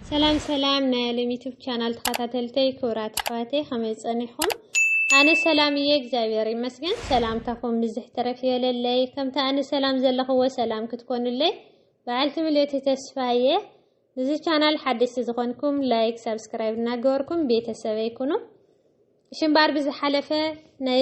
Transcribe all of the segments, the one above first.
ሰላም ሰላም ናይ ኣለም ዩቱብ ቻናል ተኸታተልተይ ክብራት ኣሕዋተይ ከመይ ፀኒኹም? ኣነ ሰላም እየ እግዚኣብሔር ይመስገን። ሰላምታኹም ብዝሕ ተረፍ ይበለለይ ከምቲ ኣነ ሰላም ዘለኽዎ ሰላም ክትኮኑለይ በዓልቲ ምልእቲ ተስፋ እየ። ንዚ ቻናል ሓደስቲ ዝኾንኩም ላይክ፣ ሳብስክራይብ እናገበርኩም ቤተሰበይ ኩኑ። ሽምባር ብዝሓለፈ ናይ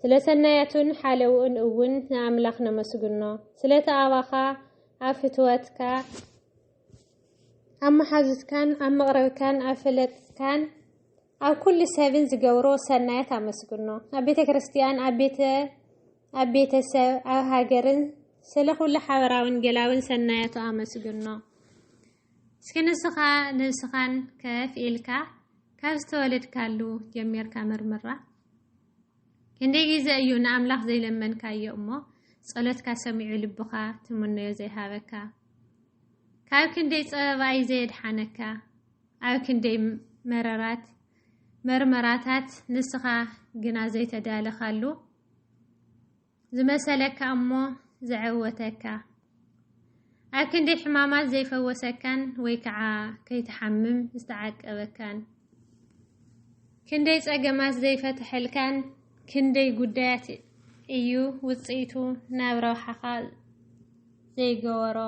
ስለ ሰናያቱን ሓለውኡን እውን ንኣምላኽ ነመስግኖ። ስለቲ ኣባኻ ኣብ ፍትወትካ፣ ኣብ መሓዙትካን ኣብ መቕረብካን ኣብ ፈለጥትካን ኣብ ኩሉ ሰብን ዝገብሮ ሰናያት ኣመስግኖ። ኣብ ቤተ ክርስቲያን፣ ኣብ ቤተ ኣብ ቤተሰብ፣ ኣብ ሃገርን ስለ ኩሉ ሓበራውን ገላውን ሰናያቱ ኣመስግኖ። እስኪ ንስኻ ነብስኻን ከፍ ኢልካ ካብ ዝተወለድካሉ ጀሚርካ መርምራ። ክንደይ ግዜ እዩ ንኣምላኽ ዘይለመንካዮ እሞ ጸሎትካ ሰሚዑ ልብኻ ትምነዮ ዘይሃበካ? ካብ ክንደይ ጸበባይ ዘየድሓነካ? ኣብ ክንደይ መረራት መርመራታት ንስኻ ግና ዘይተዳለኻሉ? ዝመሰለካ እሞ ዘዐወተካ፣ ኣብ ክንዲ ሕማማት ዘይፈወሰካን ወይ ከዓ ከይትሓምም ዝተዓቀበካን፣ ክንደይ ጸገማት ዘይፈተሐልካን፣ ክንደይ ጉዳያት እዩ ውጽኢቱ ናብ ረብሓኻ ዘይገበሮ።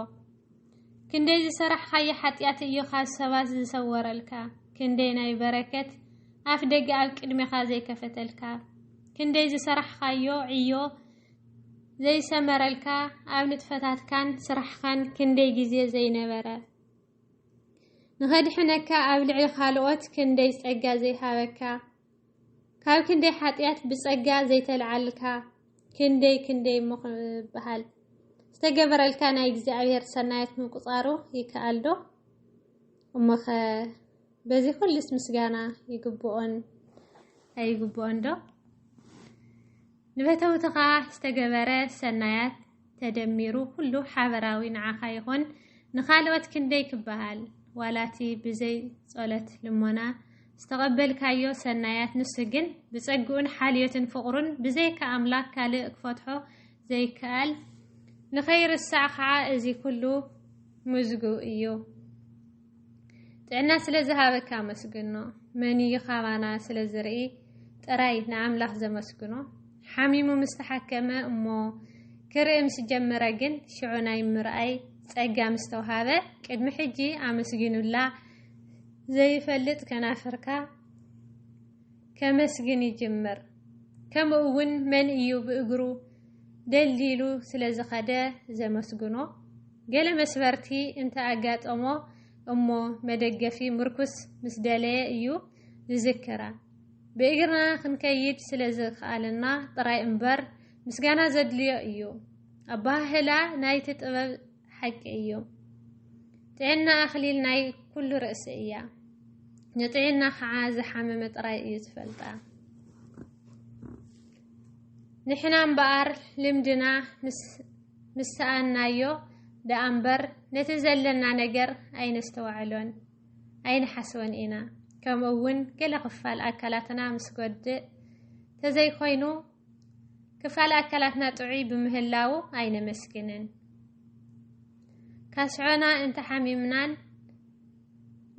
ክንደይ ዝሰራሕኻዮ ሓጢኣት እዮ ካብ ሰባት ዝሰወረልካ? ክንደይ ናይ በረከት ኣፍ ደገ ኣብ ቅድሜኻ ዘይከፈተልካ? ክንደይ ዝሰራሕኻዮ ዕዮ ዘይሰመረልካ ኣብ ንጥፈታትካን ስራሕካን ክንደይ ግዜ ዘይነበረ ንኸድሕነካ ኣብ ልዕሊ ካልኦት ክንደይ ጸጋ ዘይሃበካ ካብ ክንደይ ሓጢኣት ብጸጋ ዘይተልዓልካ ክንደይ ክንደይ እሞ ክበሃል ዝተገበረልካ ናይ እግዚኣብሔር ሰናያት ምቁጻሩ ይከኣልዶ? እሞኸ በዚ ኩሉስ ምስጋና ይግብኦን ኣይግብኦን ዶ? ንፈተውትኻ ዝተገበረ ሰናያት ተደሚሩ ኩሉ ሓበራዊ ንዓኻ ይኾን ንኻልኦት ክንደይ ክበሃል ዋላ እቲ ብዘይ ጸሎት ልሞና ዝተቐበልካዮ ሰናያት ንሱ ግን ብጸግኡን ሓልዮትን ፍቕሩን ብዘይካ ኣምላኽ ካልእ ክፈትሖ ዘይከኣል ንኸይርሳዕ ከዓ እዚ ኩሉ ምዝጉ እዩ። ጥዕና ስለ ዝሃበካ ኣመስግኖ መን እዩ ካባና ስለ ዝርኢ ጥራይ ንኣምላኽ ዘመስግኖ ሓሚሙ ምስ ተሓከመ እሞ ክርኢ ምስ ጀመረ ግን ሽዑ ናይ ምርኣይ ጸጋ ምስ ተውሃበ ቅድሚ ሕጂ ኣመስጊኑላ ዘይፈልጥ ከናፍርካ ከመስግን ይጅምር ከምኡ እውን መን እዩ ብእግሩ ደልዲሉ ስለ ዝኸደ ዘመስግኖ ገለ መስበርቲ እንተ ኣጋጠሞ እሞ መደገፊ ምርኩስ ምስ ደለየ እዩ ዝዝክራ። ብእግርና ክንከይድ ስለ ዝኸኣለና ጥራይ እምበር ምስጋና ዘድልዮ እዩ። ኣበሃህላ ናይቲ ጥበብ ሓቂ እዩ። ጥዕና ኣኽሊል ናይ ኩሉ ርእሲ እያ። ንጥዕና ከዓ ዝሓመመ ጥራይ እዩ ዝፈልጣ። ንሕና እምበኣር ልምድና ምስ ሰኣንናዮ ደኣ እምበር ነቲ ዘለና ነገር ኣይነስተውዕሎን ኣይንሓስቦን ኢና። ከምኡ እውን ገለ ክፋል ኣካላትና ምስ ጎድእ ተዘይኮይኑ ክፋል ኣካላትና ጥዑይ ብምህላዉ ኣይነመስግንን። ካስዖና እንተሓሚምናን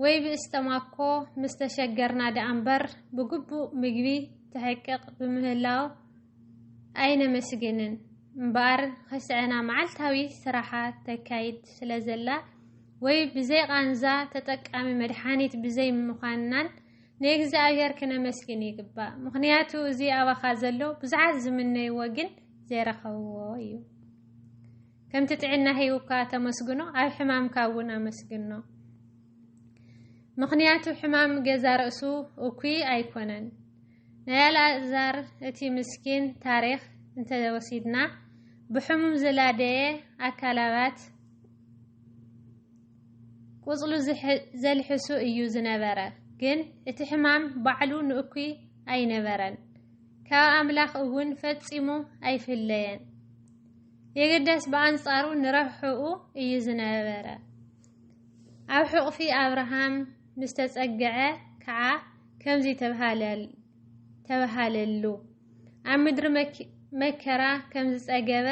ወይ ብእስጠማ እኮ ምስ ተሸገርና ደኣ እምበር ብግቡእ ምግቢ ትሕቅቕ ብምህላው ኣይነመስግንን እምበኣር ኽስዐና መዓልታዊ ስራሓ ተካይድ ስለ ዘላ ወይ ብዘይ ቓንዛ ተጠቃሚ መድሓኒት ብዘይ ምዃንናን ንእግዚኣብሔር ክነመስግን ይግባእ ምኽንያቱ እዚ ኣባኻ ዘሎ ብዙሓት ዝምነይዎ ግን ዘይረኸብዎ እዩ ከምቲ ጥዕና ሂቡካ ተመስግኖ ኣብ ሕማምካ እውን ኣመስግኖ። ምኽንያቱ ሕማም ገዛ ርእሱ እኩይ ኣይኮነን። ናይ ኣልኣዛር እቲ ምስኪን ታሪኽ እንተወሲድና ብሕሙም ዝላደየ ኣካላባት ቁጽሉ ዘልሕሱ እዩ ዝነበረ። ግን እቲ ሕማም ባዕሉ ንእኩይ ኣይነበረን፣ ካብ ኣምላኽ እውን ፈጺሙ ኣይፍለየን። የግዳስ ብኣንጻሩ ንረብሕኡ እዩ ዝነበረ። ኣብ ሕቑፊ ኣብርሃም ምስ ተጸግዐ ከኣ ከምዚ ተባሃለሉ፣ ኣብ ምድሪ መከራ ከም ዝጸገበ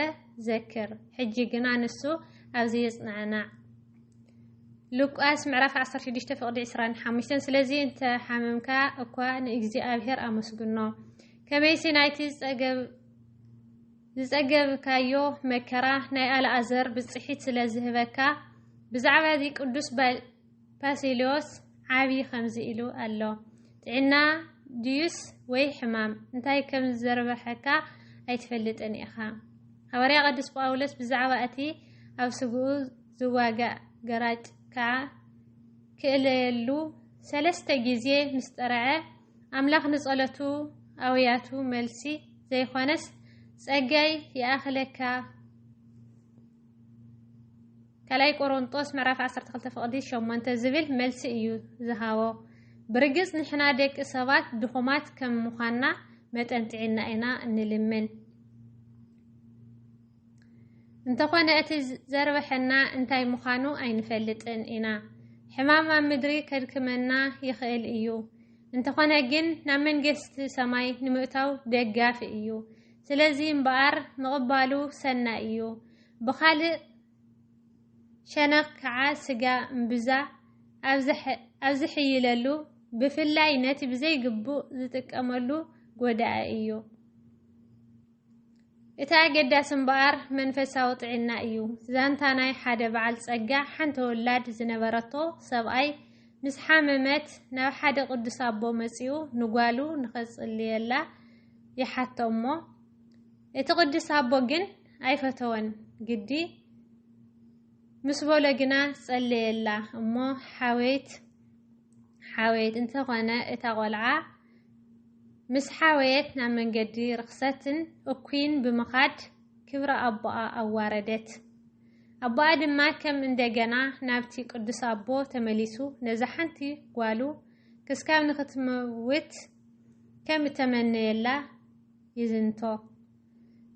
ዘክር፣ ሕጂ ግና ንሱ ኣብዚ ይጽናዕናዕ። ሉቃስ ምዕራፍ 16 ፍቕዲ 25 ስለዚ እንተ ሓመምካ እኳ ንእግዚኣብሔር ኣመስግኖ፣ ከመይሲ ናይቲ ዝጸገብ ዝጸገብካዮ መከራ ናይ ኣልኣዘር ብጽሒት ስለ ዝህበካ፣ ብዛዕባ እዚ ቅዱስ ባሲልዮስ ዓቢ ከምዚ ኢሉ ኣሎ፣ ጥዕና ድዩስ ወይ ሕማም እንታይ ከም ዝዘርበሐካ ኣይትፈልጥን ኢኻ። ሃዋርያ ቅዱስ ጳውሎስ ብዛዕባ እቲ ኣብ ስግኡ ዝዋጋእ ገራጭ ከኣ ክእለየሉ ሰለስተ ግዜ ምስ ጠርዐ፣ ኣምላኽ ንጸሎቱ ኣውያቱ መልሲ ዘይኾነስ ጸጋይ ይኣኽለካ ካልኣይ ቆሮንጦስ ምዕራፍ 12 ፍቕዲ 8 ዝብል መልሲ እዩ ዝሃቦ። ብርግጽ ንሕና ደቂ ሰባት ድኹማት ከም ምዃንና መጠን ጥዒና ኢና እንልምን። እንተኾነ እቲ ዘርበሐና እንታይ ምዃኑ ኣይንፈልጥን ኢና። ሕማም ኣብ ምድሪ ከድክመና ይኽእል እዩ። እንተኾነ ግን ናብ መንግስቲ ሰማይ ንምእታው ደጋፊ እዩ። ስለዚ እምበኣር ምቕባሉ ሰናይ እዩ። ብኻልእ ሸነኽ ከዓ ስጋ እምብዛ ኣብ ዝሕይለሉ ብፍላይ ነቲ ብዘይግቡእ ዝጥቀመሉ ጎዳኢ እዩ። እቲ ኣገዳሲ እምበኣር መንፈሳዊ ጥዒና እዩ። ዛንታ ናይ ሓደ በዓል ጸጋ ሓንቲ ወላድ ዝነበረቶ ሰብኣይ ምስ ሓመመት ናብ ሓደ ቅዱስ ኣቦ መጺኡ ንጓሉ ንኸጽልየላ ይሓቶ እሞ እቲ ቅዱስ ኣቦ ግን ኣይፈተወን ግዲ ምስ በሎ ግና ጸለየላ እሞ ሓወይት ሓወይት እንተኾነ እታ ቆልዓ ምስ ሓወየት ናብ መንገዲ ርኽሰትን እኩይን ብምኻድ ክብሪ ኣቦኣ ኣዋረደት። ኣቦኣ ድማ ከም እንደገና ናብቲ ቅዱስ ኣቦ ተመሊሱ ነዛ ሓንቲ ጓሉ ክስካብ ንኽትመውት ከም እተመነየላ ይዝንቶ።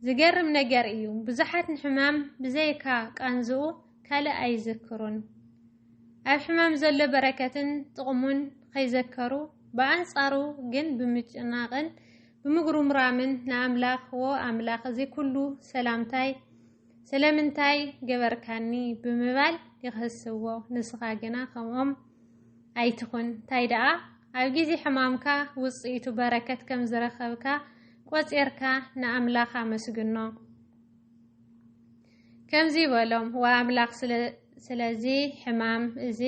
ዝገርም ነገር እዩ፣ ብዙሓት ንሕማም ብዘይካ ቃንዝኡ ካልእ ኣይዝክሩን። ኣብ ሕማም ዘሎ በረከትን ጥቕሙን ኸይዘከሩ ብኣንፃሩ ግን ብምጭናቕን ብምጉርምራምን ንኣምላኽ ዎ ኣምላኽ እዚ ኩሉ ሰላምታይ ስለምንታይ ገበርካኒ ብምባል ይኽህስዎ ንስኻ ግና ከምኦም ኣይትኹን እንታይ ደኣ ኣብ ግዜ ሕማምካ ውፅኢቱ በረከት ከም ዝረኸብካ ቆፂርካ ንኣምላኽ ኣመስግኖ። ከምዚ በሎም፣ ወኣምላኽ ስለ ስለዚ ሕማም እዚ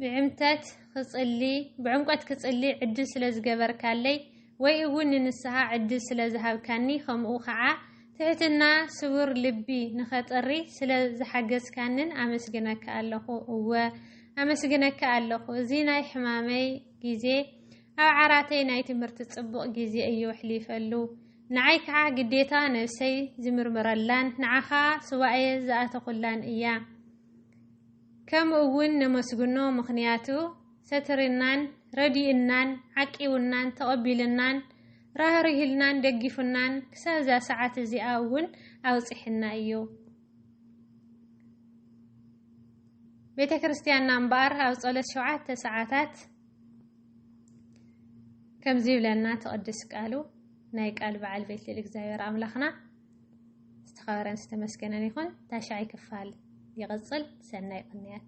ብዕምተት ክጽሊ ብዕምቆት ክጽሊ ዕድል ስለ ዝገበርካለይ ወይ እውን ንንስሓ ዕድል ስለ ዝሃብካኒ ከምኡ ኸዓ ትሕትና ስቡር ልቢ ንኸጥሪ ስለ ዝሓገዝካንን ኣመስግነካ ኣለኹ። እወ ኣመስግነካ ኣለኹ። እዚ ናይ ሕማመይ ግዜ ኣብ ዓራተይ ናይ ትምህርቲ ጽቡቕ ግዜ እዩ ኣሕሊፈሉ። ንዓይ ከዓ ግዴታ ነብሰይ ዝምርምረላን ንዓኻ ሱባኤ ዝኣተኹላን እያ። ከም እውን ነመስግኖ ምኽንያቱ ሰትሪናን ረዲኡናን ዓቂቡናን ተቐቢሉናን ራህሪህልናን ደጊፉናን ክሳብ እዛ ሰዓት እዚኣ እውን ኣብፅሕና እዩ። ቤተ ክርስቲያንና እምበኣር ኣብ ጸሎት ሸውዓተ ሰዓታት ከምዚ ይብለና ትቕድስ ቃሉ ናይ ቃል በዓል ቤት ልዕሊ እግዚኣብሔር ኣምላኽና ዝተኸበረን ዝተመስገነን ይኹን። ታሻይ ክፋል ይቕፅል። ሰናይ ቅንያት